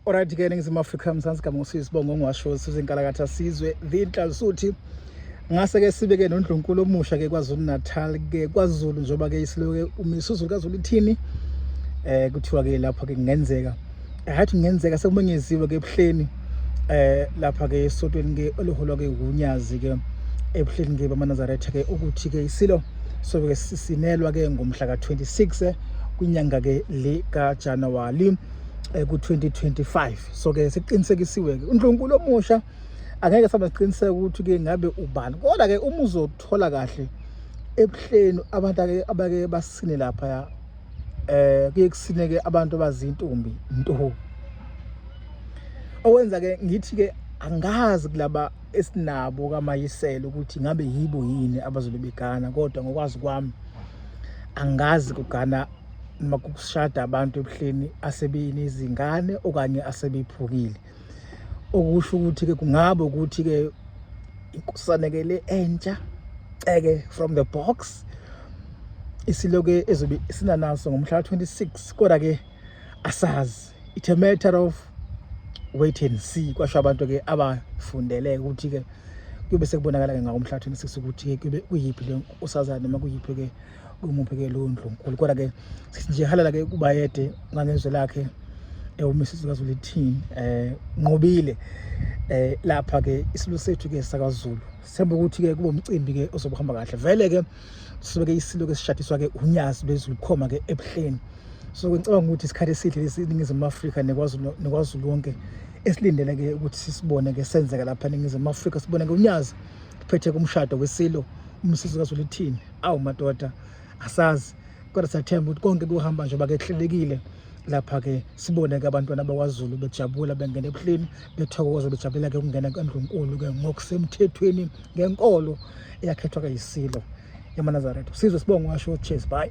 Alright ke eNingizimu Afrika Mzansi Gama usizibongo ngiwasho sizinkalakatha sizwe the Nhlalisuthi ngase ke sibe ke nondlunkulu omusha ke kwaZulu Natal ke kwaZulu njoba ke isiloke umisuzulu kaZulu ithini eh kuthiwa ke lapha ke kungenzeka hathi kungenzeka sekumenyeziwe ke ebuhleni eh lapha ke esotweni ke oliholwa ke uNyazi ke ebuhleni ke bamaNazaretha ke ukuthi ke isilo sobe ke sisinelwa ke ngomhla ka 26 eh, kwinyanga ke le ka January eh, ku-2025 so-ke siqinisekisiwe-ke uNdlunkulu omusha angeke saba siqiniseka ukuthi-ke ngabe ubani kodwa-ke uma uzothola kahle ebuhleni abantu abake basine lapha ya eh kuye kusineke abantu abazintombi nto owenza ke ngithi ke angazi kulaba esinabo kamayisela ukuthi ngabe yibo yini abazobe begana kodwa ngokwazi kwami angazi kugana noma kushada abantu ebuhleni asebenezingane okanye asebephukile okusho ukuthi-ke kungaba ukuthi-ke inkusane-ke le entsha ceke from the box isiloke ezobe sinanaso ngomhla ka-26 kodwa-ke asazi it's a matter of wait and see kwasho abantu-ke abafundele ukuthi-ke kube sekubonakala-ke ngakomhla ka-26 ukuthi-ke kuyiphi le nkosazane noma kuyiphi-ke kumuphi ke lowo ndlunkulu kodwa ke nje halala ke kubayede ngangezwe lakhe ewumisizi eh, kaZulu ithini eh nqobile eh lapha ke isilo sethu ke sakaZulu sembe ukuthi ke kubo umcimbi ke ozobuhamba kahle vele ke sibe ke isilo ke sishadiswa ke unyazi lwezulu khoma ke ebuhleni so ngicabanga ukuthi isikhathi esihle lesiningizimu Afrika nekwazi nekwazi lonke esilindele ke ukuthi sisibone ke senzeka lapha eningizimu Afrika sibone ke unyazi kuphethe kumshado wesilo umsizi kaZulu ithini awu madoda asazi kodwa siyathemba ukuthi konke kuhamba njengoba ke kuhlelekile lapha-ke sibone-ke abantwana bakwazulu bejabula bengena ebuhleni bethokoza bejabulela-ke ukungena kwendlunkulu-ke ngokusemthethweni ngenkolo eyakhethwa-ke yisilo yamanazaretha sizwe sibonge washo cheers bye